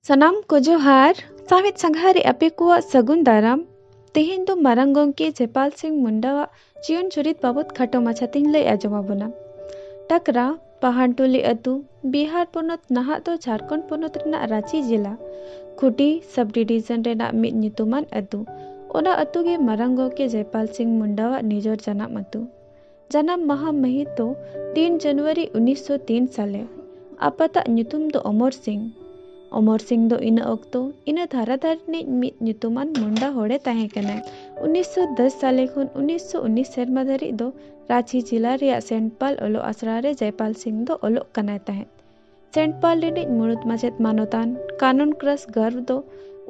ᱥᱟᱱᱟᱢ ᱠᱚ ᱡᱚᱦᱟᱨ ᱥᱟᱶᱦᱮᱫ ᱥᱟᱸᱜᱷᱟ ᱨᱮ ᱟᱯᱮ ᱠᱚᱣᱟᱜ ᱥᱟᱹᱜᱩᱱ ᱫᱟᱨᱟᱢ ᱛᱮᱦᱮᱧ ᱫᱚ ᱢᱟᱨᱟᱝ ᱜᱚᱢᱠᱮ ᱡᱮᱯᱟᱞ ᱥᱤᱝ ᱢᱩᱱᱰᱟᱣᱟᱜ ᱡᱤᱭᱚᱱ ᱪᱩᱨᱤᱛ ᱵᱟᱵᱚᱛ ᱠᱷᱟᱴᱚ ᱢᱟᱪᱷᱟ ᱛᱤᱧ ᱞᱟᱹᱭ ᱟᱸᱡᱚᱢ ᱟᱵᱚᱱᱟ ᱴᱟᱠᱨᱟ ᱯᱟᱦᱟᱱᱴᱩᱞᱤ ᱟᱹᱛᱩ ᱵᱤᱦᱟᱨ ᱯᱚᱱᱚᱛ ᱱᱟᱦᱟᱜ ᱫᱚ ᱡᱷᱟᱲᱠᱷᱚᱸᱰ ᱯᱚᱱᱚᱛ ᱨᱮᱱᱟᱜ ᱨᱟᱺᱪᱤ ᱡᱮᱞᱟ ᱠᱷᱩᱴᱤ ᱥᱟᱵ ᱰᱤᱵᱤᱡᱚᱱ ᱨᱮᱱᱟᱜ ᱢᱤᱫ ᱧᱩᱛᱩᱢᱟᱱ ᱟᱹᱛᱩ ᱚᱱᱟ ᱟᱹᱛᱩ ᱜᱮ ᱢᱟᱨᱟᱝ ᱜᱚᱢᱠᱮ ᱡᱮᱯᱟᱞ ᱥᱤᱝ ᱢᱩᱱᱰᱟᱣᱟᱜ ᱱᱤᱡᱚᱨ ᱡᱟᱱᱟᱢ ᱟᱹᱛᱩ ᱡᱟᱱᱟᱢ ᱢᱟᱦᱟ ᱢᱟᱹᱦᱤᱛ ᱫᱚ ᱛᱤᱱ ᱡᱟᱱᱩᱣᱟᱨᱤ ᱩᱱᱤᱥ ᱥᱚ ᱛᱤᱱ ᱥᱟᱞᱮ᱾ ᱟᱯᱟᱛ ᱟᱜ ᱧᱩᱛᱩᱢ ᱫᱚ ᱚᱢᱚᱨ ᱥᱤᱝ᱾ ᱚᱢᱚᱨ ᱥᱤᱝ ᱫᱚ ᱤᱱᱟᱹ ᱚᱠᱛᱚ ᱤᱱᱟᱹ ᱫᱷᱟᱨᱟ ᱫᱷᱟᱨ ᱨᱤᱱᱤᱡ ᱢᱤᱫ ᱧᱩᱛᱩᱢᱟᱱ ᱢᱩᱱᱰᱟ ᱦᱚᱲ ᱮ ᱛᱟᱦᱮᱸ ᱠᱟᱱᱟᱭ᱾ ᱩᱱᱤᱥ ᱥᱚ ᱫᱚᱥ ᱥᱟᱞᱮ ᱠᱷᱚᱱ ᱩᱱᱤᱥ ᱥᱚ ᱩᱱᱤᱥ ᱥᱮᱨᱢᱟ ᱫᱷᱟᱹᱨᱤᱡ ᱫᱚ ᱨᱟᱺᱪᱤ ᱡᱤᱞᱟ ᱨᱮᱭᱟᱜ ᱥᱮᱱᱴ ᱯᱟᱞ ᱚᱞᱚᱜ ᱟᱥᱲᱟ ᱨᱮ ᱡᱚᱭᱯᱟᱞ ᱥᱤᱝ ᱫᱚ ᱚᱞᱚᱜ ᱠᱟᱱᱟᱭ ᱛᱟᱦᱮᱸᱫ᱾ ᱥᱮᱱᱴ ᱯᱟᱞ ᱨᱤᱱᱤᱡ ᱢᱩᱬᱩᱛ ᱢᱟᱪᱮᱫ ᱢᱟᱱᱚᱛᱟᱱ ᱠᱟᱱᱚᱱ ᱠᱨᱟᱥ ᱜᱟᱨᱵᱷ ᱫᱚ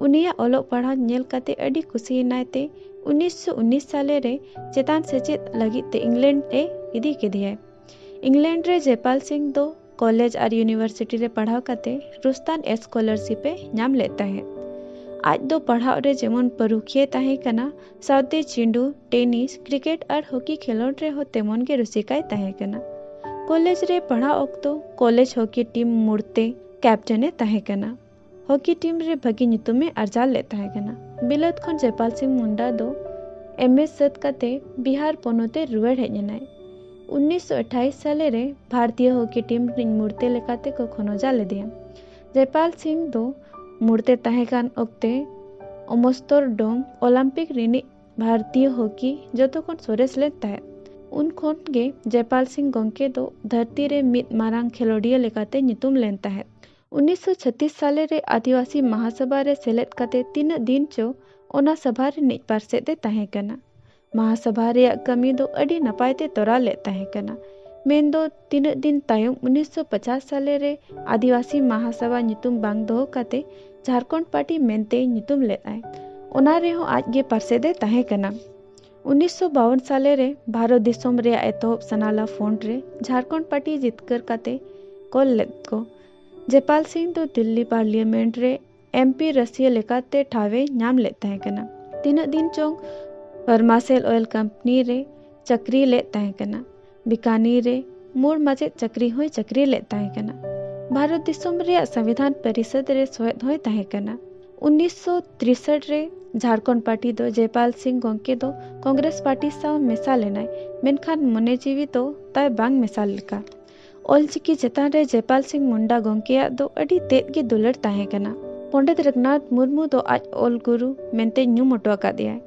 ᱩᱱᱤᱭᱟᱜ ᱚᱞᱚᱜ ᱯᱟᱲᱦᱟᱣ ᱧᱮᱞ ᱠᱟᱛᱮ ᱟᱹᱰᱤ ᱠᱩᱥᱤ ᱮᱱᱟᱭ ᱛᱮ ᱩᱱᱤᱥ ᱥᱚ ᱩᱱᱤᱥ ᱥᱟᱞᱮ ᱨᱮ ᱪᱮᱛᱟᱱ ᱥᱮᱪᱮᱫ ᱞᱟᱹᱜᱤᱫ ᱛᱮ ᱤᱝᱞᱮᱱᱰ ᱮ ᱤᱫᱤ ᱠᱮᱫᱮᱭᱟᱭ᱾ ᱤᱝᱞᱮᱱᱰ ᱨᱮ ᱡᱮᱯᱟᱞ ᱥᱤᱝ ᱫᱚ ᱠᱚᱞᱮᱡᱽ ᱟᱨ ᱭᱩᱱᱤᱵᱷᱟᱨᱥᱤᱴᱤ ᱨᱮ ᱯᱟᱲᱦᱟᱣ ᱠᱟᱛᱮ ᱨᱩᱥᱛᱟᱱ ᱮᱥᱠᱚᱞᱟᱨᱥᱤᱯ ᱮ ᱧᱟᱢ ᱞᱮᱫ ᱛᱟᱦᱮᱸᱫ᱾ ᱟᱡ ᱫᱚ ᱯᱟᱲᱦᱟᱣ ᱨᱮ ᱡᱮᱢᱚᱱ ᱯᱟᱹᱨᱩᱠᱷᱤᱭᱟᱹᱭ ᱛᱟᱦᱮᱸ ᱠᱟᱱᱟ, ᱥᱟᱶᱛᱮ ᱪᱤᱸᱰᱩ, ᱴᱮᱱᱤᱥ, ᱠᱨᱤᱠᱮᱴ ᱟᱨ ᱦᱚᱠᱤ ᱠᱷᱮᱞᱚᱸᱰ ᱨᱮ ᱦᱚᱸ ᱛᱮᱢᱚᱱ ᱜᱮ ᱨᱩᱥᱤᱠᱟᱭ ᱛᱟᱦᱮᱸ ᱠᱟᱱᱟ᱾ ᱠᱚᱞᱮᱡᱽ ᱨᱮ ᱯᱟᱲᱦᱟᱜ ᱚᱠᱛᱚ ᱠᱚᱞᱮᱡᱽ ᱦᱚᱠᱤ ᱴᱤᱢ ᱢᱩᱬᱛᱮ ᱠᱮᱯᱴᱮᱱ ᱮ ᱛᱟᱦᱮᱸ ᱠᱟᱱᱟ᱾ ᱦᱚᱠᱤ ᱴᱤᱢ ᱨᱮ ᱵᱷᱟᱹᱜᱤ ᱧᱩᱛᱩᱢ ᱮ ᱟᱨᱡᱟᱣ ᱞᱮᱫ ᱛᱟᱦᱮᱸ ᱠᱟᱱᱟ᱾ ᱵᱤᱞᱟᱹᱛ ᱠᱷᱚᱱ ᱡᱮᱯᱟᱞ ᱥᱤᱝ ᱢᱩᱱᱰᱟ ᱫᱚ ᱮᱢᱮ ᱥᱟᱹᱛ ᱠᱟᱛᱮ ᱵᱤᱦᱟᱨ ᱯᱚᱱᱚᱛ ᱮ ᱨᱩᱣᱟᱹᱲ ᱦᱮᱡ ᱮᱱᱟᱭ᱾ ᱩᱱᱤᱥᱥᱚ ᱟᱴᱷᱟᱭᱤᱥ ᱥᱟᱞᱮ ᱨᱮ ᱵᱷᱟᱨᱛᱤᱭᱚ ᱦᱚᱠᱤ ᱴᱤᱢ ᱨᱤᱱᱤᱡ ᱢᱩᱬᱛᱮ ᱞᱮᱠᱟᱛᱮ ᱠᱚ ᱠᱷᱚᱱᱚᱡᱟ ᱞᱮᱫᱮᱭᱟ᱾ ᱡᱮᱯᱟᱞ ᱥᱤᱝ ᱫᱚ ᱢᱩᱬᱛᱮ ᱛᱟᱦᱮᱸ ᱠᱟᱱ ᱚᱠᱛᱮ ᱚᱢᱥᱛᱚᱨᱰᱚᱢ ᱚᱞᱟᱢᱯᱤᱠ ᱨᱤᱱᱤᱡ ᱵᱷᱟᱨᱛᱤᱭᱚ ᱦᱚᱠᱤ ᱡᱚᱛᱚ ᱠᱷᱚᱱ ᱥᱚᱨᱮᱥ ᱞᱮᱱ ᱛᱟᱦᱮᱸᱫ᱾ ᱩᱱ ᱠᱷᱚᱱ ᱜᱮ ᱡᱮᱯᱟᱞ ᱥᱤᱝ ᱜᱚᱝᱠᱮ ᱫᱚ ᱫᱷᱟᱹᱨᱛᱤ ᱨᱮ ᱢᱤᱫ ᱢᱟᱨᱟᱝ ᱠᱷᱮᱞᱚᱸᱰᱤᱭᱟᱹ ᱞᱮᱠᱟᱛᱮ ᱧᱩᱛᱩᱢ ᱞᱮᱱ ᱛᱟᱦᱮᱸᱫ᱾ ᱩᱱᱤᱥ ᱥᱚ ᱪᱷᱟᱛᱤᱥ ᱥᱟᱞᱮ ᱨᱮ ᱟᱹᱫᱤᱣᱟᱥᱤ ᱢᱟᱦᱟᱥᱚᱵᱷᱟ ᱨᱮ ᱥᱮᱞᱮᱫ ᱠᱟᱛᱮ ᱛᱤᱱᱟᱹᱜ ᱫᱤᱱ ᱪᱚ ᱚᱱᱟ ᱥᱚᱵᱷᱟ ᱨᱤᱱᱤᱡ ᱯᱟᱨᱥᱮᱛ ᱮ ᱛᱟᱦᱮᱸ ᱠᱟᱱᱟ᱾ ᱢᱟᱦᱟᱥᱚᱵᱷᱟ ᱨᱮᱭᱟᱜ ᱠᱟᱹᱢᱤ ᱫᱚ ᱟᱹᱰᱤ ᱱᱟᱯᱟᱭ ᱛᱮ ᱛᱚᱨᱟᱣ ᱞᱮᱫ ᱛᱟᱦᱮᱸ ᱠᱟᱱᱟ ᱢᱮᱱ ᱫᱚ ᱛᱤᱱᱟᱹᱜ ᱫᱤᱱ ᱛᱟᱭᱚᱢ 1950 ᱥᱟᱞᱮ ᱨᱮ ᱟᱹᱫᱤᱵᱟᱹᱥᱤ ᱢᱟᱦᱟᱥᱚᱵᱷᱟ ᱧᱩᱛᱩᱢ ᱵᱟᱝ ᱫᱚᱦᱚ ᱠᱟᱛᱮ ᱡᱷᱟᱨᱠᱷᱚᱸᱰ ᱯᱟᱨᱴᱤ ᱢᱮᱱᱛᱮ ᱧᱩᱛᱩᱢ ᱞᱮᱫᱟᱭ ᱚᱱᱟ ᱨᱮᱦᱚᱸ ᱟᱡ ᱜᱮ ᱯᱟᱨᱥᱮᱫ ᱮ ᱛᱟᱦᱮᱸ ᱠᱟᱱᱟ 1952 ᱥᱟᱞᱮ ᱨᱮ ᱵᱷᱟᱨᱚᱛ ᱫᱤᱥᱚᱢ ᱨᱮᱭᱟᱜ ᱮᱛᱚᱦᱚᱵ ᱥᱟᱱᱟᱞᱟ ᱯᱷᱚᱸᱰ ᱨᱮ ᱡᱷᱟᱨᱠᱷᱚᱸᱰ ᱯᱟᱨᱴᱤ ᱡᱤᱛᱠᱟᱹᱨ ᱠᱟᱛᱮ ᱠᱚᱞ ᱞᱮᱫ ᱠᱚ ᱡᱮᱯᱟᱞ ᱥᱤᱝ ᱫᱚ ᱫᱤᱞᱞᱤ ᱯᱟᱨᱞᱤᱭᱟᱢᱮᱱᱴ ᱨᱮ ᱮᱢᱯᱤ ᱨᱟᱹᱥᱤᱭᱟᱹ ᱞᱮᱠᱟᱛᱮ ᱴᱷᱟᱶ ᱮ ᱧᱟᱢ ᱞᱮᱫ ᱛᱟᱦᱮᱸ ᱠᱟᱱᱟ᱾ ᱛᱤᱱᱟᱹᱜ ᱫᱤᱱ ᱪᱚᱝ ᱯᱷᱟᱨᱢᱟᱥᱮᱞ ᱚᱭᱮᱞ ᱠᱟᱢᱯᱟᱹᱱᱤ ᱨᱮ ᱪᱟᱹᱠᱨᱤ ᱞᱮᱫ ᱛᱟᱦᱮᱸ ᱠᱟᱱᱟ᱾ ᱵᱤᱠᱟᱱᱤᱨ ᱨᱮ ᱢᱩᱬ ᱢᱟᱪᱮᱛ ᱪᱟᱹᱠᱨᱤ ᱦᱚᱸᱭ ᱪᱟᱹᱠᱨᱤ ᱞᱮᱫ ᱛᱟᱦᱮᱸ ᱠᱟᱱᱟ᱾ ᱵᱷᱟᱨᱚᱛ ᱫᱤᱥᱚᱢ ᱨᱮᱭᱟᱜ ᱥᱟᱸᱵᱤᱫᱷᱟᱱ ᱯᱟᱹᱨᱤᱥᱟᱹᱫᱽ ᱨᱮ ᱥᱚᱦᱮᱫ ᱦᱚᱸᱭ ᱛᱟᱦᱮᱸ ᱠᱟᱱᱟ᱾ ᱩᱱᱤᱥ ᱥᱚ ᱛᱨᱤᱥᱟᱴ ᱨᱮ ᱡᱷᱟᱨᱠᱷᱚᱸᱰ ᱯᱟᱨᱴᱤ ᱫᱚ ᱡᱚᱭᱯᱟᱞ ᱥᱤᱝ ᱜᱚᱝᱠᱮ ᱫᱚ ᱠᱚᱸᱜᱽᱨᱮᱥ ᱯᱟᱨᱴᱤ ᱥᱟᱶ ᱢᱮᱥᱟ ᱞᱮᱱᱟᱭ, ᱢᱮᱱᱠᱷᱟᱱ ᱢᱚᱱᱮ ᱡᱤᱣᱤ ᱫᱚ ᱛᱟᱭ ᱵᱟᱝ ᱢᱮᱥᱟ ᱞᱮᱠᱟ᱾ ᱚᱞᱪᱤᱠᱤ ᱪᱮᱛᱟᱱ ᱨᱮ ᱡᱮᱯᱟᱞ ᱥᱤᱝ ᱢᱩᱱᱰᱟ ᱜᱚᱢᱠᱮᱭᱟᱜ ᱫᱚ ᱟᱹᱰᱤ ᱛᱮᱫ ᱜᱮ ᱫᱩᱞᱟᱹᱲ ᱛᱟᱦᱮᱸ ᱠᱟᱱᱟ᱾ ᱯᱚᱸᱰᱮᱛ ᱨᱟᱹᱜᱷᱩᱱᱟᱛᱷ ᱢᱩᱨᱢᱩ ᱫᱚ ᱟᱡ ᱚᱞ ᱜᱩᱨᱩ ᱢᱮᱱᱛᱮ ᱧᱩᱢ ᱚᱴᱚ ᱟᱠᱟᱫᱮᱭᱟᱭ᱾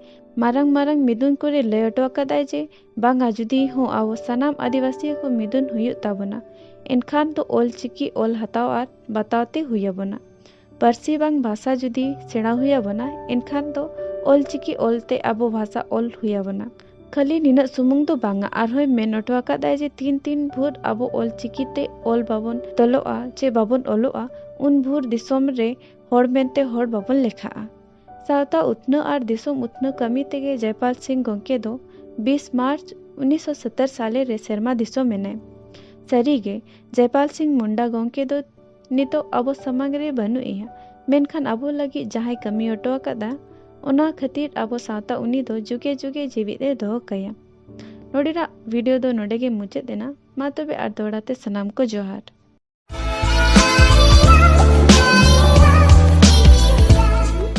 ᱢᱟᱨᱟᱝ ᱢᱟᱨᱟᱝ ᱢᱤᱫᱩᱱ ᱠᱚᱨᱮ ᱞᱟᱹᱭ ᱚᱴᱚ ᱟᱠᱟᱫᱟᱭ ᱡᱮ ᱵᱟᱝᱟ ᱡᱩᱫᱤ ᱦᱚᱸ ᱟᱵᱚ ᱥᱟᱱᱟᱢ ᱟᱹᱫᱤᱵᱟᱹᱥᱤ ᱠᱚ ᱢᱤᱫᱩᱱ ᱦᱩᱭᱩᱜ ᱛᱟᱵᱚᱱᱟ ᱮᱱᱠᱷᱟᱱ ᱫᱚ ᱚᱞᱪᱤᱠᱤ ᱚᱞ ᱦᱟᱛᱟᱣ ᱟᱨ ᱵᱟᱛᱟᱣ ᱛᱮ ᱦᱩᱭ ᱟᱵᱚᱱᱟ᱾ ᱯᱟᱹᱨᱥᱤ ᱵᱟᱝ ᱵᱷᱟᱥᱟ ᱡᱩᱫᱤ ᱥᱮᱬᱟ ᱦᱩᱭ ᱟᱵᱚᱱᱟ ᱮᱱᱠᱷᱟᱱ ᱫᱚ ᱚᱞ ᱪᱤᱠᱤ ᱚᱞ ᱛᱮ ᱟᱵᱚ ᱵᱷᱟᱥᱟ ᱚᱞ ᱦᱩᱭ ᱟᱵᱚᱱᱟ ᱠᱷᱟᱹᱞᱤ ᱱᱤᱱᱟᱹᱜ ᱥᱩᱢᱩᱝ ᱫᱚ ᱵᱟᱝᱟ ᱟᱨᱦᱚᱸᱭ ᱢᱮᱱ ᱚᱴᱚ ᱟᱠᱟᱫᱟᱭ ᱡᱮ ᱛᱤᱱ ᱛᱤᱱ ᱵᱷᱳᱨ ᱟᱵᱚ ᱚᱞ ᱪᱤᱠᱤ ᱛᱮ ᱚᱞ ᱵᱟᱵᱚᱱ ᱛᱚᱞᱚᱜᱼᱟ ᱪᱮ ᱵᱟᱵᱚᱱ ᱚᱞᱚᱜᱼᱟ ᱩᱱ ᱵᱷᱳᱨ ᱫᱤᱥᱚᱢ ᱨᱮ ᱦᱚᱲ ᱢᱮᱱᱛᱮ ᱦᱚᱲ ᱵᱟᱵᱚᱱ ᱞᱮᱠᱷᱟᱜᱼᱟ ᱥᱟᱶᱛᱟ ᱩᱛᱱᱟᱹᱣ ᱟᱨ ᱫᱤᱥᱚᱢ ᱩᱛᱱᱟᱹᱣ ᱠᱟᱹᱢᱤ ᱛᱮᱜᱮ ᱡᱚᱭᱯᱟᱞ ᱥᱤᱝ ᱜᱚᱢᱠᱮ ᱫᱚ ᱵᱤᱥ ᱢᱟᱨᱪ ᱩᱱᱤᱥ ᱥᱚ ᱥᱚᱛᱛᱚᱨ ᱥᱟᱞᱮ ᱨᱮ ᱥᱮᱨᱢᱟ ᱫᱤᱥᱚᱢ ᱮᱱᱟᱭ ᱥᱟᱹᱨᱤ ᱜᱮ ᱡᱚᱭᱯᱟᱞ ᱥᱤᱝ ᱢᱩᱱᱰᱟ ᱜᱚᱢᱠᱮ ᱫᱚ ᱱᱤᱛᱚᱜ ᱟᱵᱚ ᱥᱟᱢᱟᱝ ᱨᱮ ᱵᱟᱹᱱᱩᱜ ᱮᱭᱟ ᱢᱮᱱᱠᱷᱟᱱ ᱟᱵᱚ ᱞᱟᱹᱜᱤᱫ ᱡᱟᱦᱟᱸᱭ ᱠᱟᱹᱢᱤ ᱚᱴᱚ ᱟᱠᱟᱫᱟ ᱚᱱᱟ ᱠᱷᱟᱹᱛᱤᱨ ᱟᱵᱚ ᱥᱟᱶᱛᱟ ᱩᱱᱤ ᱫᱚ ᱡᱩᱜᱮ ᱡᱩᱜᱮ ᱡᱤᱣᱤᱫ ᱮ ᱫᱚᱦᱚ ᱠᱟᱭᱟ ᱱᱚᱰᱮᱱᱟᱜ ᱵᱷᱤᱰᱤᱭᱳ ᱫᱚ ᱱᱚᱰᱮ ᱜᱮ ᱢᱩᱪᱟᱹᱫ ᱮᱱᱟ ᱢᱟ ᱛᱚᱵᱮ ᱟᱨ ᱫᱚᱦᱲᱟ ᱛᱮ ᱥᱟᱱᱟᱢ ᱠᱚ ᱡᱚᱦᱟᱨ